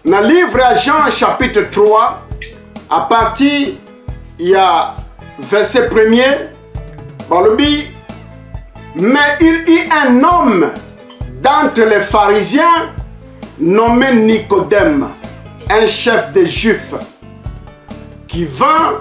na livre ya jean chapitre 3 à partir ya verset premier balobi mais il y un homme d'entre les pharisiens nommé nicodème un chef des juifs qui vint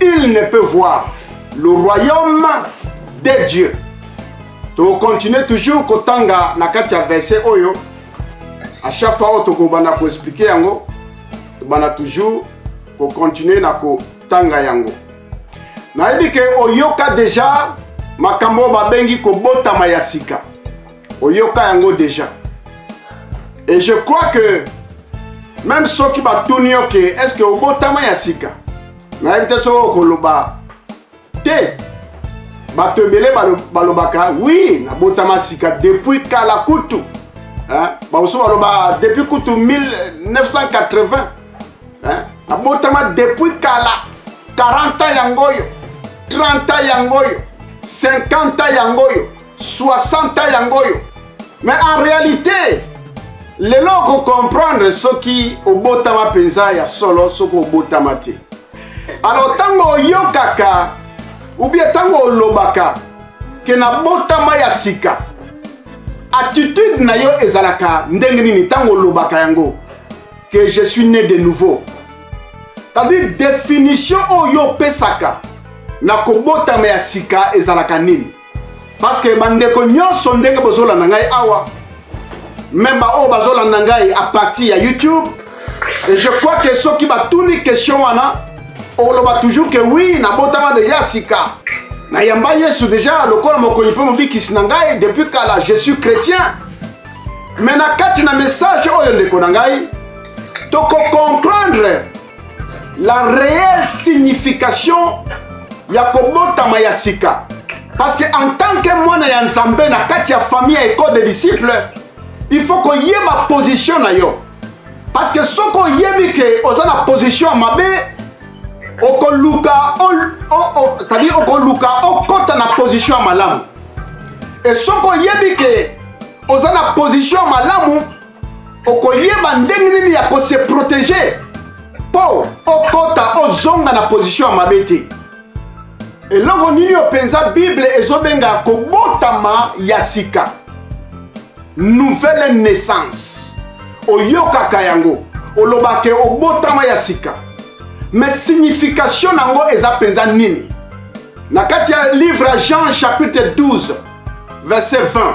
il ne peut voir le royaume de dieu tokontinue toujours kotanga na kati ya verse oyo à chaque fois oyo tokobanda koexplike yango tobanda toujours kokontinue na kotanga yango nayebi ke oyoka deja makambo oyo babengi kobotama ya sika oyoka yango déjà et je crois que même soki batuni yo ke est ce que obotama ya sika nayebi te soki okoloba te bato ebele balobaka wi nabotama sika depuis kala kutu bamosusu baloba depuis kutu 1980 nabotama depuis kala 40 ans yango oyo 30 ans yango oyo 50 ans yango oyo 60 ans yango oyo mais en réalité lelo okocomprendre soki obotama mpenza ya solo soki obotama te alors ntango oyokaka ubie ntango olobaka ke nabotama ya sika attitude na yo ezalaka ndenge nini ntango olobaka yango que je suis né de nouveau c'est-à-dire définition oyo opesaka na kobotama ya sika ezalaka nini parce que bandeko nyonso ndenge bozolanda ngai awa meme baoyo bazolanda ngai a partir ya youtube et je crois que soki batuni question wana oloba toujours que oui nabotama deja sika nayamba yesu deja lokola mokonyi mpe mobikisi na ngai depuis kala je suis chrétien me na kati na message oyo ndeko na ngai tokokomprendre la réelle signification ya kobotama ya sika parce que en tant que mwana ya nzambe na kati ya famille ya ecole de disciple il faut koyeba position na yo parce que soki oyebi ke oza na position ya mabe okoluka c'est-à-dire okoluka okota na position ya malamu e soki oyebi ke oza na position ya malamu okoyeba ndenge nini ya kose protege mpo okota ozonga na position ya mabe te eloko nini oyo mpenza bible ezobenga kobotama ya sika nouvelle naissance oyokaka yango olobake obotama ya sika me signification na yango eza mpenza nini na kati ya livre ya jean chapitre 12 verset 20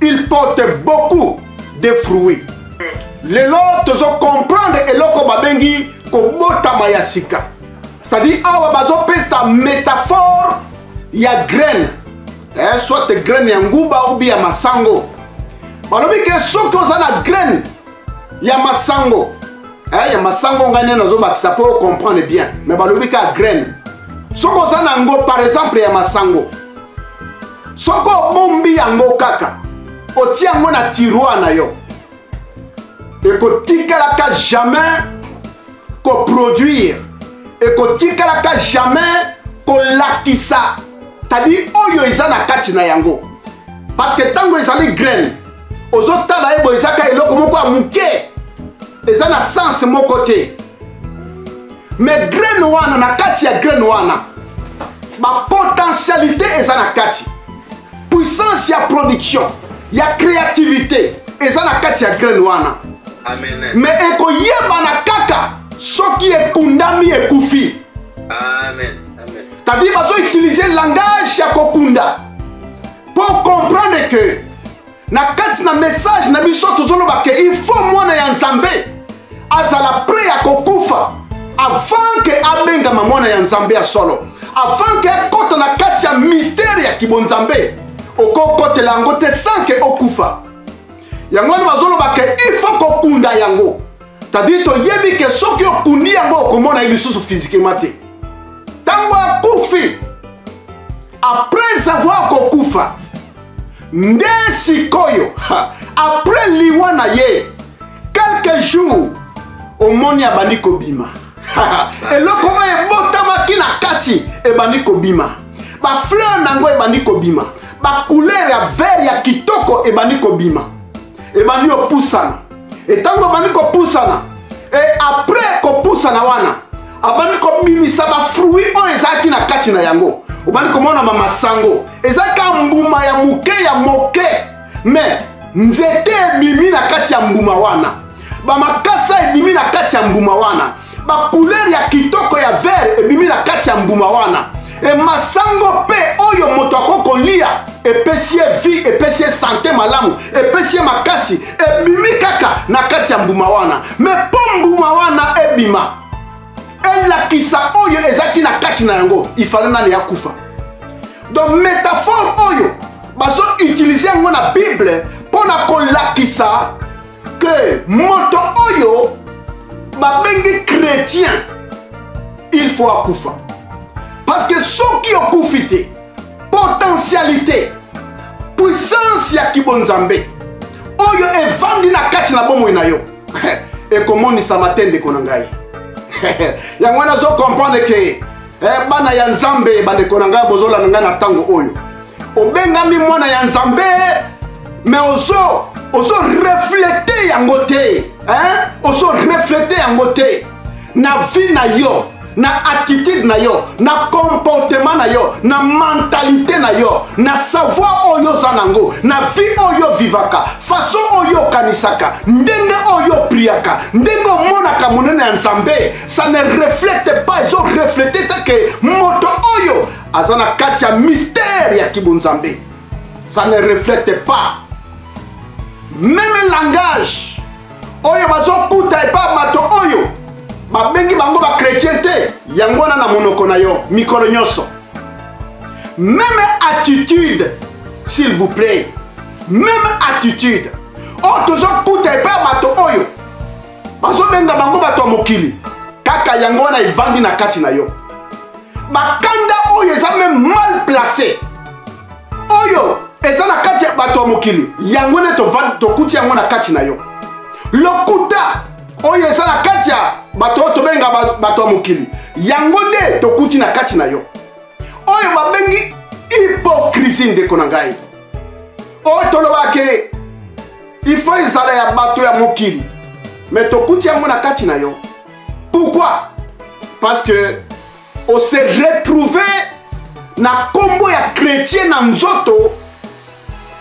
il porte beaucoup de fruits lelo tozo comprendre eloko babengi kobotama ya sika c'est-à-dire awa bazopesa métaphore ya graine eh, soit graine ya nguba ubi ya masango balobi ke soki oza na graine ya masango eh, ya masango ngai nde nazobakisa mpo ocomprendre bien mais balobi ka graine soki oza na yango par exemple ya masango soki obombi yango kaka otia yango na tiroir na yo ekotikalaka jamais koproduire ekotikalaka jamais kolakisa tadi oyo eza na kati na yango parce que ntango ezali graine ozotala ye boye eza ka eloko moko ya moke eza na sense moko te me graine wana na kati ya graine wana bapotentialité eza na kati puissance ya production ya créativité eza na kati ya graine wana me ekoyebana kaka soki ekundami ekufi tadi bazoutilize langage ya kokunda po comprendre que na kati na message na biso tozoloba ke il faut mwana ya nzambe azala pre ya kokufa avant ke abengama mwana ya nzambe ya solo avant ke akota na kati ya mistere ya kibonzambe okokotela yango te sans ke okufa yango wana bazoloba ke il faut kokunda yango tadiri toyebi ke soki okundi yango okomona ye lisusu fizikema te ntango akufi après avoir kokufa nde sikoyo après liwa na ye quelques jours omoni abandi kobima eloko oyo ebotamaki na kati ebandi kobima bafleur na yango ebandi kobima bacouleur ya vert ya kitoko ebandi kobima ebandi kopusana etango abandi kopusana e après kopusana wana abandi kobimisa bafruit oyo ezalaki na kati na yango obandi komona bamasango ezalaki mbuma ya moke ya moke me nzete ebimi na kati ya mbuma wana bamakasa ebimi na kati ya mbuma wana bakulere ya kitoko ya vere ebimi na kati ya mbuma wana e masango mpe oyo moto akoki kolia epesi ye vie epesi ye sante malamu epesi ye makasi ebimi kaka na kati ya mbuma wana me mpo mbuma wana ebima elakisa oyo ezalaki na kati na yango ifale nani ya kufa donc métaphore oyo bazo utilize yango na bible mpo na kolakisa que moto oyo babengi chrétien il faut akufa parce que soki okufi te potentialité puissance ya kibonzambe oyo evandi na kati na bomoi na yo ekomonisama te ndeko na ngai yango wana azokomprendre ke eh, bana ya nzambe bandeko na ngai bozolanda ngai na ntango oyo obengami mwana ya nzambe me ozo ozo reflete yango te eh? ozo reflete yango te na vie na yo na attitude na yo na comportement na yo na mentalité na yo na savoir oyo oza nango na vie oyo ovivaka façon oyo okanisaka ndenge oyo opriaka ndenge omonaka monene ya nzambe ça ne reflète pas ezo reflète te ke moto oyo aza na kati ya mystère ya kibonzambe ça ne reflète pas meme langage oyo bazokuta epa bato oyo babengi bango bakretien te yango wana na monoko na yo mikolo nyonso meme attitude s'il vous plaît meme attitude oyo tozokuta epa bato oyo bazobenga bango bato ya mokili kaka yango wana evandi na kati na yo bakanda oyo eza meme mal place oyo eza na kati ya bato ya mokili yango nde tokuti yango na kati na yo lokuta oyo eza na kati ya bato oyo tobenga bato ya mokili yango nde tokuti na kati na yo oyo babengi hipokrisi ndeko na ngai oyo tolobake il faut ezala ya bato ya mokili mais tokuti yango na kati na yo pourquoi parce que on se retrouve na nkombo ya chrétien na nzoto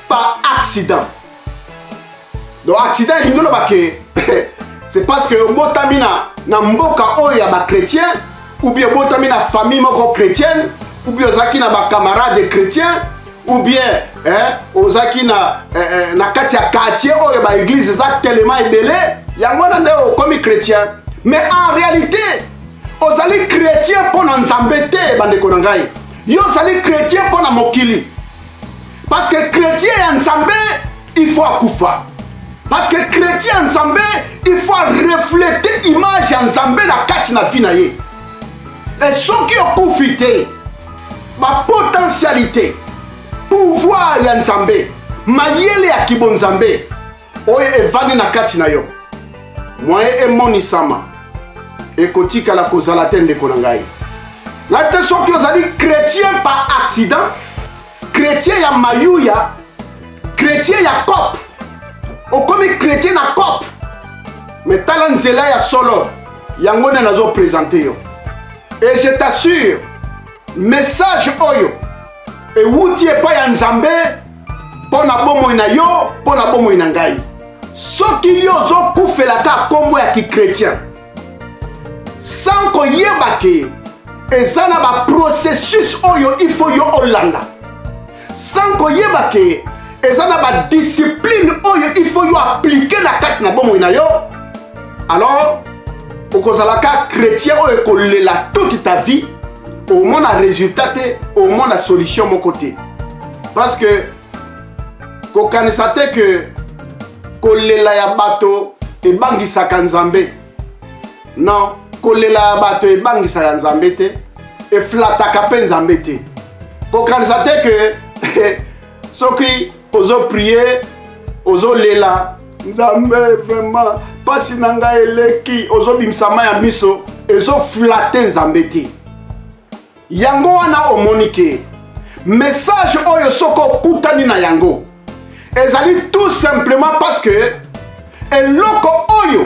par accident donc accident elingi oloba ke c'est parce que obotami na, na mboka oyo ya bachrétien ou bien obotami na famille moko chrétienne ou bien ozalaki na bacamarade chrétien ou bien eh, ozalaki na, eh, eh, na kati ya quartier oyo baeglize eza telema ebele yango wana nde okomi chrétien mais en réalité ozali chrétien mpo na nzambe te bandeko na ngai yo ozali chrétien mpo na mokili parce que chrétien ya nzambe il faut akufa parce que chrétien ya nzambe il faut areflete image ya nzambe na kati na vi na ye e soki okufi te bapotentialité pouvoir ya nzambe mayele ya kibonzambe oyo evandi na kati na yo moye emonisama ekotikala kozala te ndeko na ngai na te soki ozali chrétien par accident chrétien ya mayuya chrétien ya cop okomi chrétien na cop me tala nzela ya solo yango nde nazopresente yo et je t'assure message oyo ewuti epai ya nzambe mpo na bomoi na yo mpo na bomoi na ngai soki yo ozokufelaka nkombo ya kikretien sans koyeba ke eza na baprocessus oyo il faut yo olanda sans koyeba ke eza na badiscipline oyo il faut yo aplike na kati na bomoi na yo alors okozala ka chrétien oyo ekolela toute ta vie omona résultat te omona solution moko te parce que kokanisa te ke kolela ya bato ebangisaka nzambe non kolela ya bato ebangisaka nzambe te eflataka mpe nzambe te kokanisa te ke soki ozoprie ozolela nzambe vraiment mpasi na ngai eleki ozobimisa mai ya miso ezoflate nzambe te yango wana omoni ke message oyo soki okutani na yango ezali tout simplement parce que eloko oyo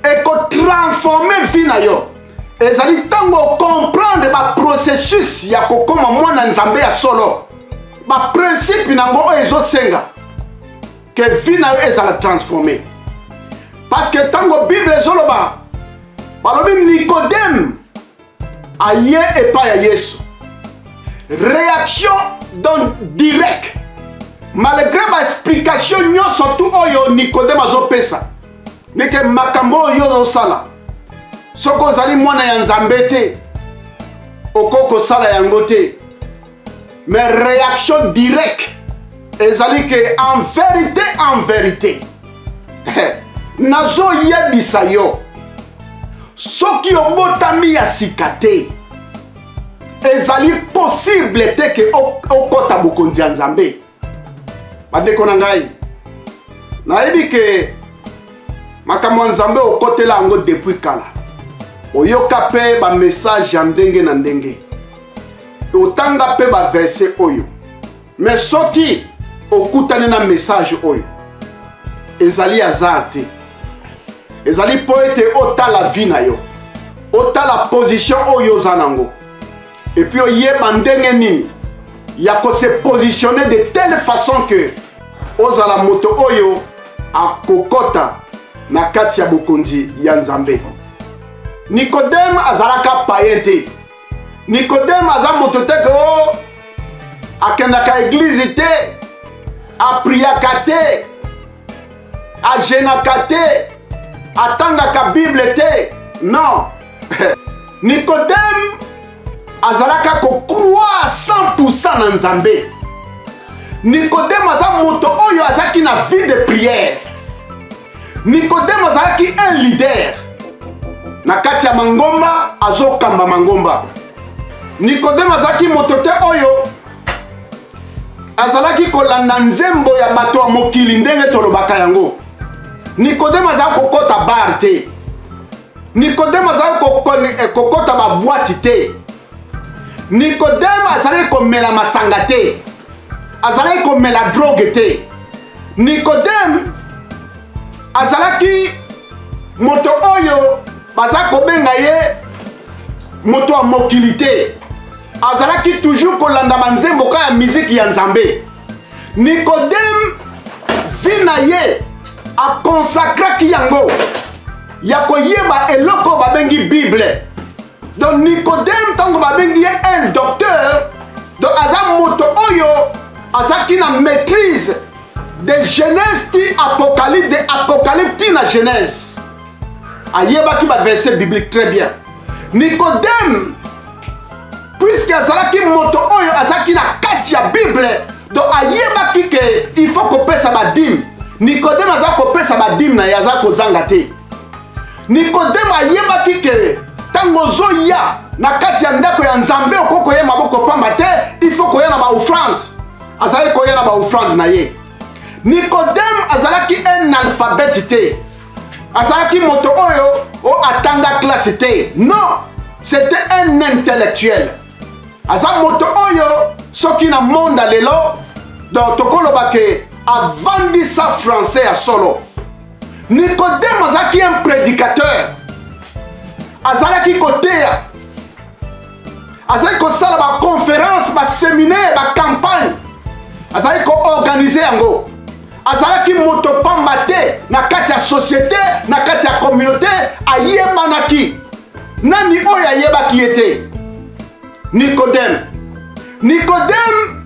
ekotransforme vie na yo ezali ntango okomprendre baprocessus ya kokoma mwana nzambe ya solo baprincipe na yango oyo ezosenga ke vie na yo ezala transforme parce que ntango bible ezoloba balobi nikodeme aye epai ya yesu réaction donc direct malgré baexplication nyonso tu oyo nikodeme azopesa ndeke makambo oyo ozosala soki ozali mwana ya nzambe te okoki kosala yango te mais réaction directe ezali ke en vérité en vérité nazoyebisa yo soki obotami ya sika te ezali posible te ke okɔta bokonzi ya nzambe bandeko na ngai nayebi ke makambo ya nzambe okotela yango depuis kala oyoka mpe bamessage ya ndenge na ndenge otanga mpe baverse oyo me soki okutani na message oyo ezali hasard te ezali mpo ete otala vi na yo otala position oyo oza nango et puis oyeba ndenge nini ya ko se positionner de telle façon que ozala moto oyo akokota na kati ya bokonzi ya nzambe nikodeme azalaka paye te nikodeme aza moto te ke o oh, akendaka eglize te apriaka te ajenaka te atangaka bible te non nicodème azalaka kokroire 100 na nzambe nicodème aza moto oyo azalaki na vie de prière nicodème azalaki un leader na kati ya mangomba azokamba mangomba nikodeme azalaki moto te oyo azalaki kolanda nzembo ya bato ya mokili ndenge tolobaka yango nikodeme azalaki kokɔta bare te nikodeme azalaki eh, kokɔta babwati te nikodeme azalaki komela masanga te azalaki komela droge te nikodeme azalaki moto oyo baza kobenga ye moto ya mokili te azalaki toujours kolanda banzembo ka ya miziki ya nzambe nikodeme vi na ye akonsakraki yango ya koyeba eloko babengi bible donc nikodeme ntango babengi ye un docteur donc aza moto oyo azalaki na maîtrise de genèse ti apocalypse de apocalypse ti na genèse ayebaki baverset biblique très bien nikodeme puiske azalaki moto oyo azalaki na kati ya bible donc ayebaki ke il faut kopesa badime nikodeme aza kopesa badime na ye aza kozanga te nikodeme ayebaki ke ntango ozoya na kati ya ndako ya nzambe okoki koya maboko pamba te il faut koya na baofrande azalaki koya na baofrande na ye nikodeme azalaki un alphabete te azalaki moto oyo o atanga classe te non c'était un intellectuel aza moto oyo soki na monde ya lelo donc tokoloba ke avandisa français ya solo nikodeme azalaki un prédicateur azalaki koteya azalaki kosala baconférence baseminaire bacampagne azalaki koorganize yango azalaki moto pamba te na kati ya societe na kati ya communauté ayebanaki nani oyo ayebaki ye te nikodeme nikodeme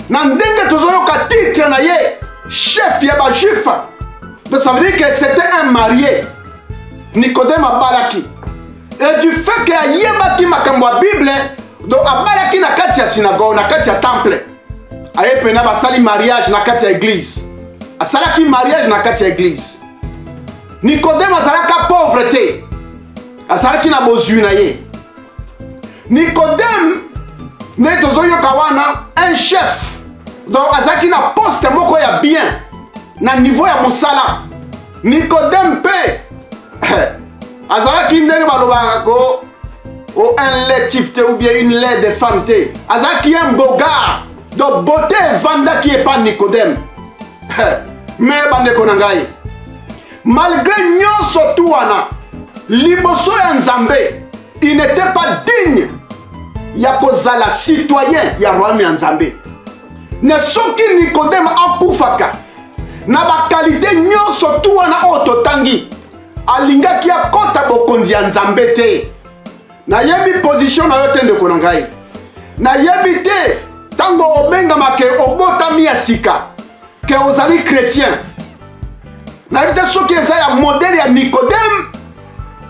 na ndenge tozoyoka titre na ye chef ya bajuif donc ça veut dire que c'était un marié nikodeme abalaki et du fait que ayebaki makambo ya bible donc abalaki na kati ya synagogue na kati ya temple aye pena basali mariage na kati ya eglise asalaki mariage na kati ya eglise nikodeme azalaka pauvre te azalaki na bozwi na ye nikodeme nde tozoyoka wana un chef donc azalaki na poste moko ya bien na niveau ya mosala nikodeme mpe azalaki ndenge balobaka ko o oh, un lait type te ou bien une lait de femme te azalaki un bogard donc beauté evandaki epa nicodème me bandeko na ngai malgré nyonso tu wana liboso ya nzambe il n'était pas digne ya kozala citoyen ya royaume ya nzambe na soki nikodeme akufaka na bakalite nyonso tu wana oyo totangi alingaki akɔta bokonzi ya nzambe te nayebi pozisio na yo te ndeko na ngai nayebi te ntango obengama ke obotami ya sika ke ozali chrétien nayebi te soki eza ya modele ya nikodeme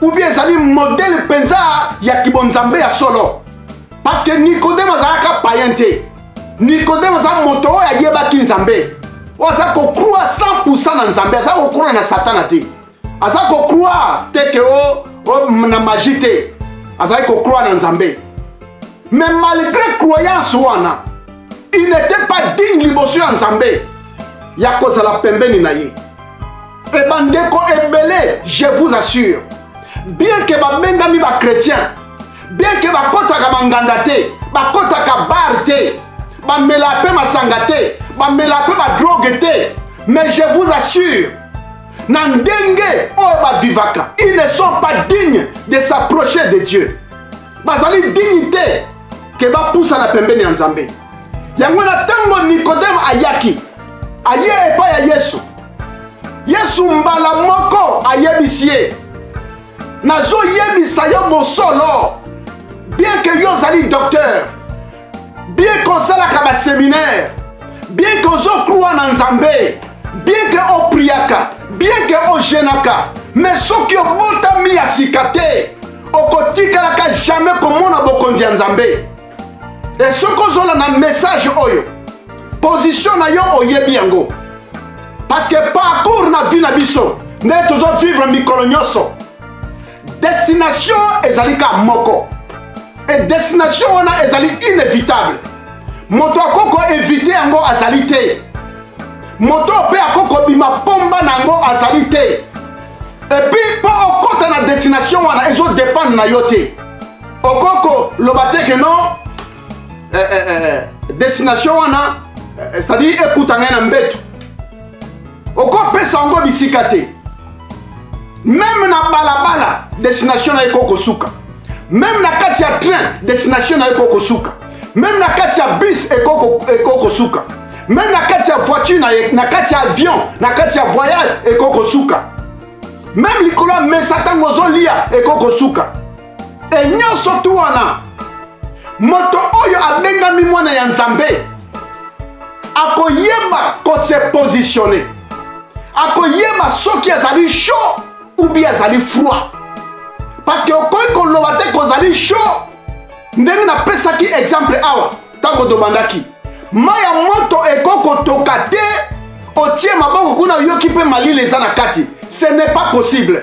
ubie ezali modele mpenza ya kibonzambe ya solo parce que nikodeme azalaka payen te nikodeme aza moto oyo ayebaki nzambe oyo aza kokrua 100 na nzambe aza kokrua na satana te aza kokrua te ke o, o na magi te azali kokrua na nzambe mais malgré croyance wana il n'était pas digne liboso ya nzambe ya kozala pembeni na ye e bandeko ebele je vous assure bien ke babengami bachrétien bien ke bakotaka banganda te bakotaka bar te bamela mpe masanga te bamela mpe badroge te mais je vous assure na ndenge oyo bavivaka ils ne sont pas dignes de s'approcher de dieu bazali digne te ke bapusana pembeni ya nzambe yango na ntango nikodeme ayaki aye epai ya yesu yesu mbala moko ayebisi ye nazoyebisa yo bosolo bien ke yo ozali docteur bien que osalaka baseminaire bien que ozokrwa na nzambe bien que opriaka bien que ojenaka mais soki obotami ya sika te okotikalaka jamais komona bokonzi ya nzambe e soki ozolanda message oyo position na yo oyebi yango parce que parcours na vie na biso nde tozovivre mikolo nyonso destination ezali ka moko e destination wana ezali inévitable moto akoki koevite yango azali te moto mpe akoki kobima mpomba na yango azali te epuis mpo okota na destination wana ezodependre na yo te okoki koloba te ke non eh, eh, eh, eh destination wana eh, c'est-à-dire ekuta ngai na mbeto okopesa yango bisika te meme na balabala destination na ye ko kosuka meme na kati ya train destination na ye ko kosuka meme na kati ya bus eko kosuka meme na kati ya voiture na ye na kati ya avion na kati ya voyage eko kosuka meme likolo ya mesa ntango ozolia eko kosuka e nyonso tu wana moto oyo abengami mwana ya nzambe akoyeba kose positionne akoyeba soki azali chaud ou bien azali froid parce que okoki koloba te kozali chaud ndenge napesaki exemple awa ntango tobandaki mai ya moto ekoki kotoka te otie maboko kuna oyoki mpe malili eza na kati ce n'est pas possible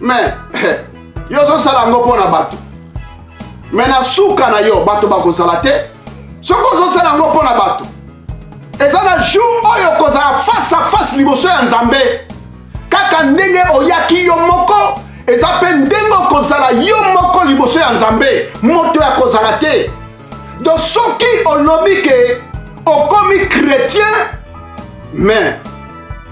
mais yo ozosala yango mpo na bato mais na suka na yo bato bakozala te soki ozosala yango mpo na bato eza na jour oyo okozala face à face liboso ya nzambe kaka ndenge oyaki yo moko eza mpe ndenge okozala yo moko liboso ya nzambe moto ya kozala te donc soki olobi ke okomi chrétien mais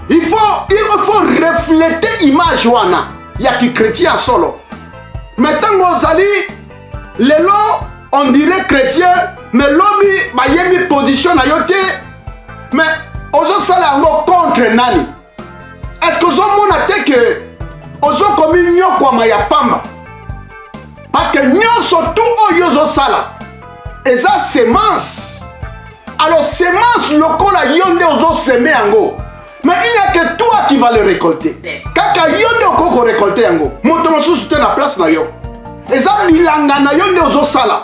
il faut, il faut refléter image wana ya kichrétien ya solo mais ntango ozali lelo on dirait chrétien mais lobi bayebi position na yo te mais ozosala yango contre nani eske ozomona te ke ozokomi nyokwama ya pamba parceke nyonso tu oyo ozosala eza semence alors semence lokola yo nde ozoseme yango mais il n'y a que toi qui va le récolter kaka yo nde okoki korecolte yango moto mosusu te na place na yo eza bilanga na yo nde ozosala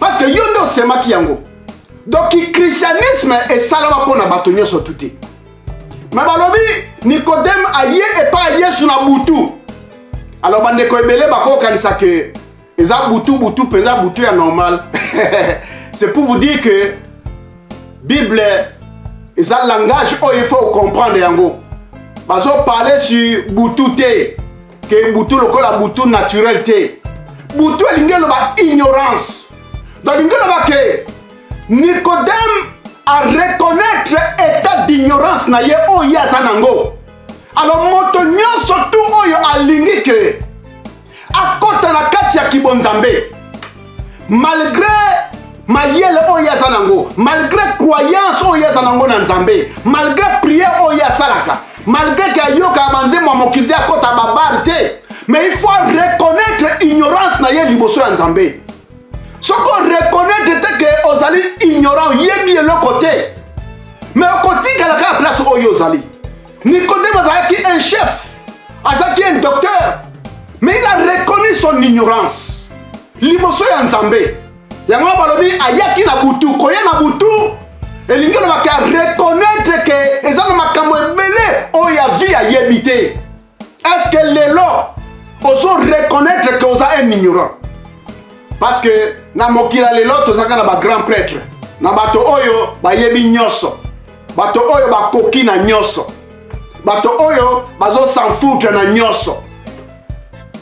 parce que yo nde osemaki yango donc kikristianisme esalama mpo na bato nyonso tu te me balobi nikodeme aye epai ya yesu na butu alors bandeko ebele bakokanisa ke eza butu butu mpenza butu ya normal c'est pour vous dire que bible eza langage oyo il faut comprendre yango bazoparle sur butu te ke butu lokola butu naturel te butu elingi eloba ignorance donc elingi eloba ke nicodème areconnaitre état d'ignorance na ye oyo ye aza nango alors moto nyonso tu oyo alingi ke akota na kati ya kibonzambe malgré mayele oyo ye aza nango malgré croyance oyo ye aza nango na nzambe malgré prière oyo ye asalaka malgré ke ayokaka banzembo ya mokili te akota babare te mais il faut reconnaître ignorance na ye liboso ya nzambe soki oreconnaitre te ke ozali ignorant oyebi eloko te mais okotikala kaka place oyo ozali Nicodème azalaki un chef, azalaki un docteur, mais il a reconnu son ignorance. Liboso ya Nzambe. Yango balobi ayaki na butu, koya na butu elingi olobaki a reconnaître ke eza na makambo ebele oyo ya vie ayebi te. Est-ce que lelo ozo reconnaître ke oza un ignorant? Parce que na mokila lelo tozaka na ba grand prêtre, na bato oyo bayebi nyonso. bato oyo bakoki na nyonso bato oyo bazosanfoutre na nyonso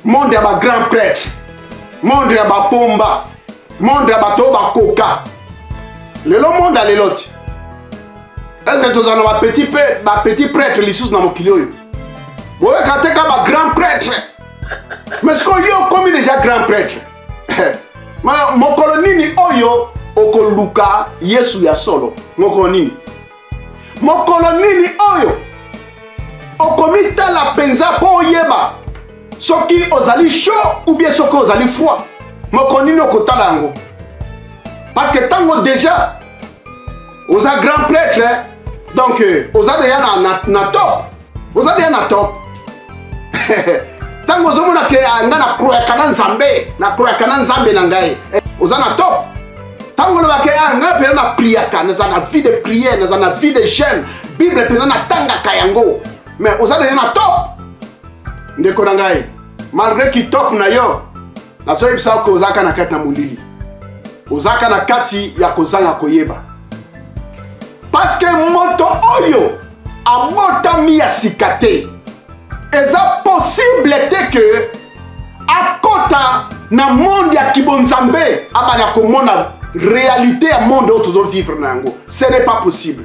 monde ya bagrand prêtre monde ya bapomba monde ya bato oyo bakoka lelo monde ya lelo ti ese tozala na bapetit ba prêtre lisusu na mokili oyo boyokaka te ka bagrand prêtre mais sikoyo yo okomi deja grand prêtre mokolo nini oyo okoluka yesu ya solo mokolo nini mokolo nini oyo okomitala mpenza mpo oyeba soki ozali chaud ou bien soki ozali froid mokolo nini okotala yango parce que ntango déjà oza grand prêtre donc euh, oza deja na, na, na top oza bien na top ntango ozomona ke ah, ngai nakroyaka na nzambe nakroyaka na nzambe na ngai eh, oza na top ntango olobaka ya ah, ngai mpena na priaka naza na vie de prière naza na vie de jeune bible mpena natangaka yango mais oza deja na top ndeko na ngai malgré kitop na yo nazoyebisa yo ke ozalaka na kati na molili ozalaka na kati ya kozanga koyeba parce que moto oyo abotami ya sika te eza possible te ke akota na monde ya kibonzambe abanda komona réalité ya monde oyo tozo vivre na yango ce n'est pas possible